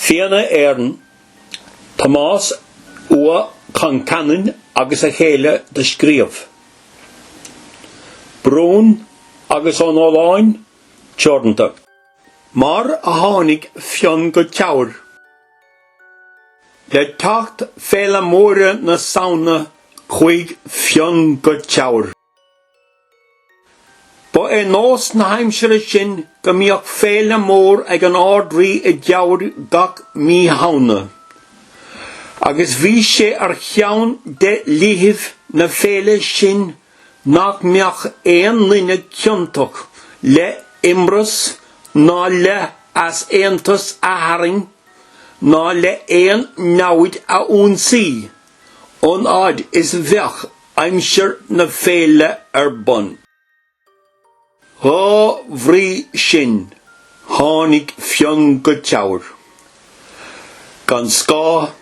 Fianna Éireann, Tomás Ua Concheanainn agus a chéile do scríobh, Brún agus Ó Nóláin, teoranta. Mar a tháinig Fionn go Teamhair le teacht Féile Móire na Samhna chuaigh Fionn go Teamhair. Ba é nós na haimsire sin go mbíodh féile mór ag an Ard-Rí i dTeamhair gach mí Shamhna, agus bhí sé ar cheann de dhlíthibh na féile sin nach mbeadh aon duine ciontach le h-imreas ná le h-easaontas a tharraing ná le h-aon namhaid a ionsaí. an fhad is bheadh aimsir na féile ar bun. Dhá bhrí sin tháinig Fionn go Teamhair gan scáth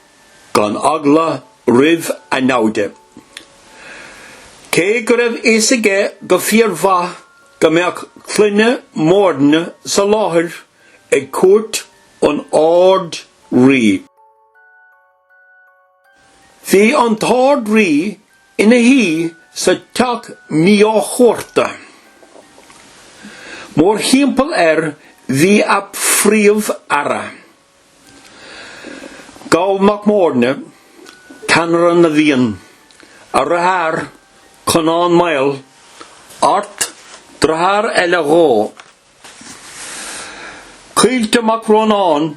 gan eagla roimh a naimhde. Cé go raibh fhios aige go fíor mhaith go mbeadh Clanna Móirne sa láthair ag cuairt an Árd Rí, Bhí an tArd Rí ina shuí sa teach mío-chuarta. Mór thimpeall air bhí a Phríomh Aire, Goll Mac Móirne, Ceannaire na bhFiann, a dhritheár, Conán Maol, Art, dritheár eile dhó, Caoilte Mac Rónáin,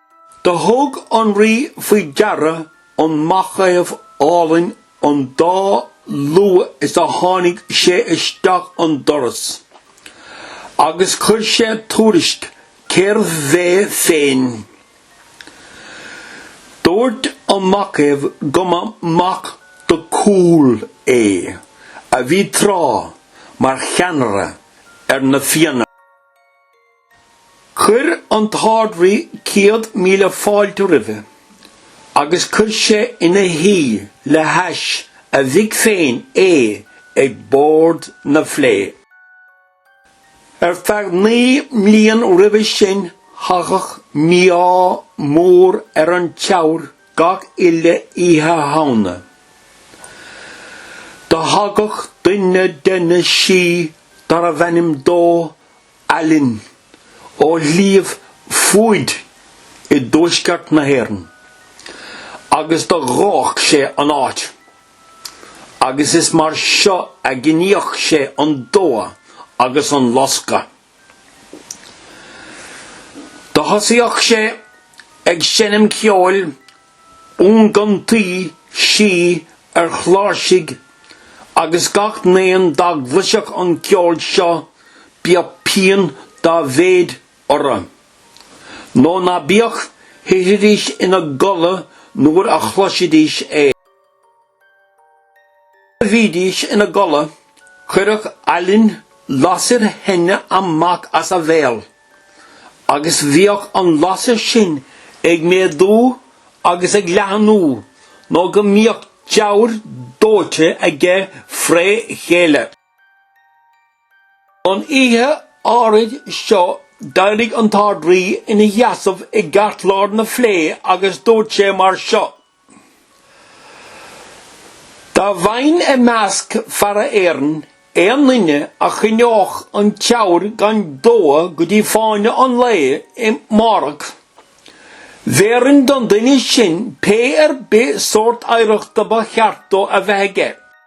Do thug an rí faoi deara an macaomh álainn an dá luath is a tháinig sé isteach an doras, agus chuir sé tuairisc cérbh é féin. Dubhairt an macaomh go mba mac do Cumhaill é, a bhí tráth mar cheannaire ar na Fianna. Chuir an tArd-Rí céad míle fáilte roimhe agus chuir sé ina shuí le hais a mhic féin é ag bord na fleá. Ar feadh naoi mbliain roimhe sin thagadh mí-ádh mór ar an Teamhair gach uile Oíche Shamhna. Do thagadh duine de na sí darbh ainm dó Aillin, ó Shliabh Fuaid i dTuaisceart na hÉireann, agus do dhódh sé an áit, agus is mar seo a ghníodh sé an dó agus an loscadh. Do thosaíodh sé ag seinm ceoil iongantaigh sí ar chláirsigh agus gach n-aon dá gcloisfeadh an ceol seo bíodh pian dá mhéid orra nó ná bíodh, thitfidís ina gcodladh nuair a chloisfidís é. a bhídís ina gcodladh, chuireadh Aillin lasair theine amach as a bhéal, agus bhíodh an lasair sin ag méadú agus ag leathanú nó go mbíodh Teamhair dóite aige fré chéile. An oíche áirid seo d'éirigh an tArd-Rí ina sheasamh i gceartlár na flé agus dúirt sé mar seo, Dá bhfaighinn i measc feara Éireann aon duine a choinneodh an Teamhair gan dó go dtí fáinne an lae i mbárach, bhéarfainn don duine sin pé ar bith sórt oidhreachta ba cheart dó a bheith aige.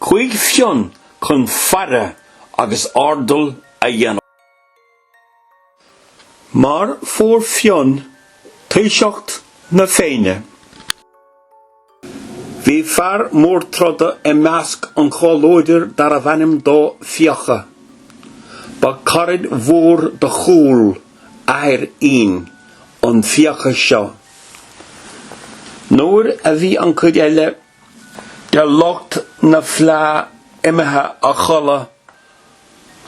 Chuaigh Fionn chun faire agus airdeall a dhéanamh. Mar fuair Fionn taoiseacht na Féinne, bhí fear mór troda i measc an chomhluadair darbh ainm dó Fiacha. Ba caraid mhór do Chumhall athair Fhinn an Fiacha seo. Nuair a bhí an chuid eile De lucht na Fleá imithe a chodladh,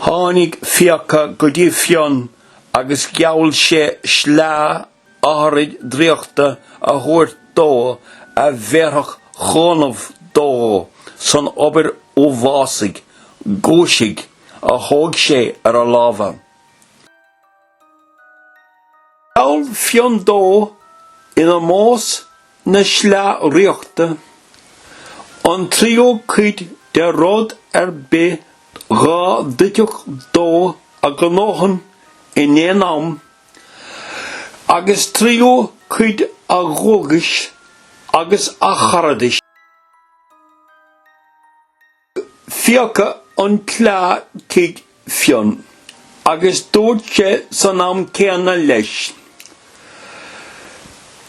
tháinig Fiacha go dtí Fionn agus gheall sé sleá áithrid draíochta a thabhairt dó a bhéarfadh cúnamh dó san obair uafásaigh, guaisigh, a thóg sé ar a lámha. Gheall Fionn dó in ómós na sleá dhraíochta, an tríú cuid de rud ar bith dhá dtitfeadh dó a ghnóchan in aon am, agus tríú cuid a dhóchais agus a charadais. Fiacha an tsleá chuig Fionn agus dúirt sé san am céanna leis,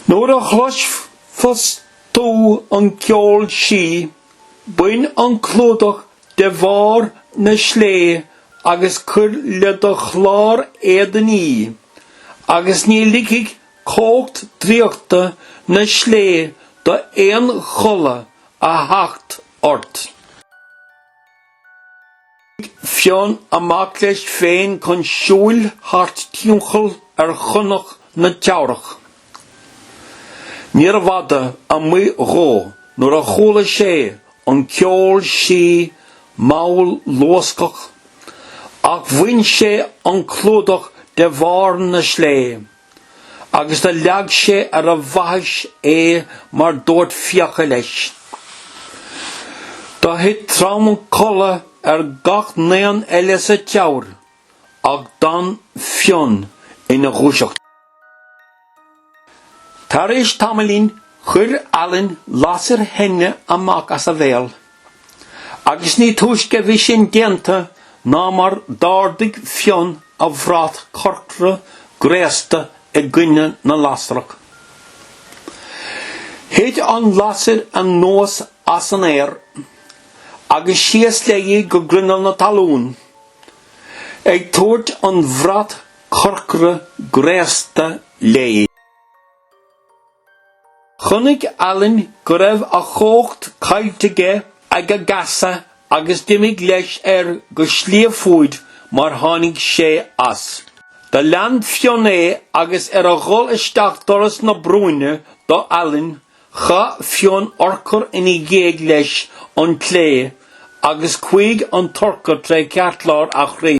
Nuair a chloisfeas tú an ceol sí, bain an clúdach de bharr na slé agus cuir le do chlár éadain í, agus ní ligfidh cumhacht draíochta na slé do aon chodladh a theacht ort. Tig Fionn amach leis féin chun siúil thart timcheall ar shonnach na Teamhrach. Níorbh fhada amuigh dhó nuair a chuala sé an ceol sí mall luascach ach bhain sé an clúdach de bharr na slé. agus do leag sé ar a bhaithis é mar dúirt Fiacha leis. Do thit trom codladh ar gach n-aon eile sa Teamhair ach d'fhan Fionn ina dhúiseacht. Tar éis tamaillín chuir Aillén lasair theine amach as a bhéal Agus ní túisce a bhí sin déanta ná mar d'ardaigh Fionn a bhrat corcra gréasta i gcoinne na lasrach. Thit an lasair anuas as an aer agus síos léi go grinneall na talún, ag tabhairt an bhrat corcra gréasta léi. Chonaic Aillén go raibh a chumhacht caillte aige ag a gheasa agus d'imigh leis air go Sliabh Fuaid mar tháinig sé as. Do lean Fionn é agus ar a dhul isteach doras na bruíne do Aillén chaith Fionn urchar ina dhiaidh leis an tsleá agus chuaigh an t-urchar tré cheartlár a chroí.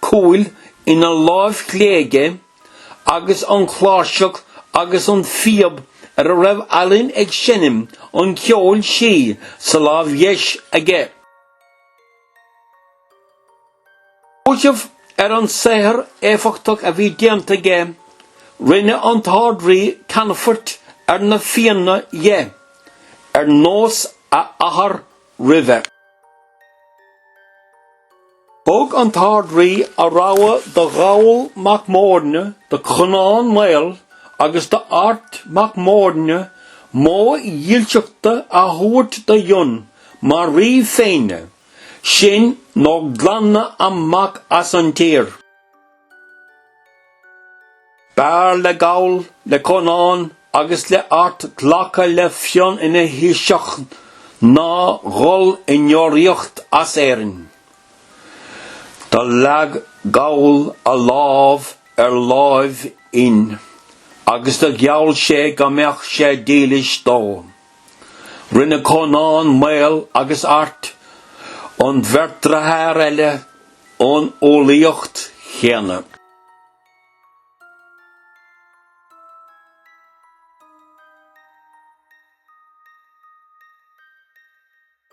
cúil ina láimh chlé aige agus an chláirseach agus an phíob ar a raibh Aillén ag seinm an cheoil sí sa láimh dheis aige. Faoiseamh ar an saothar éifeachtach a bhí déanta aige, rinne an tArd-Rí ceannfort ar na Fianna dhe, ar nós a athar roimhe. Thug an tArd-Rí a rogha do Gholl mac Móirne, do Chonán Maol agus d'Art mac Móirne móid dílseachta a thabhairt do Fhionn mar rí féinne, sin nó glanadh amach as an tír. B'fhearr le Goll, le Conán agus le Art glacadh le Fionn ina Thaoiseach ná dhul i ndeoraíocht as Éirinn. Do leag Goll a lámh ar láimh Fhinn agus do gheall sé go mbeadh sé dílis dó. Rinne Conán Maol agus Art an bheirt dearthár eile an umhlaíocht chéanna.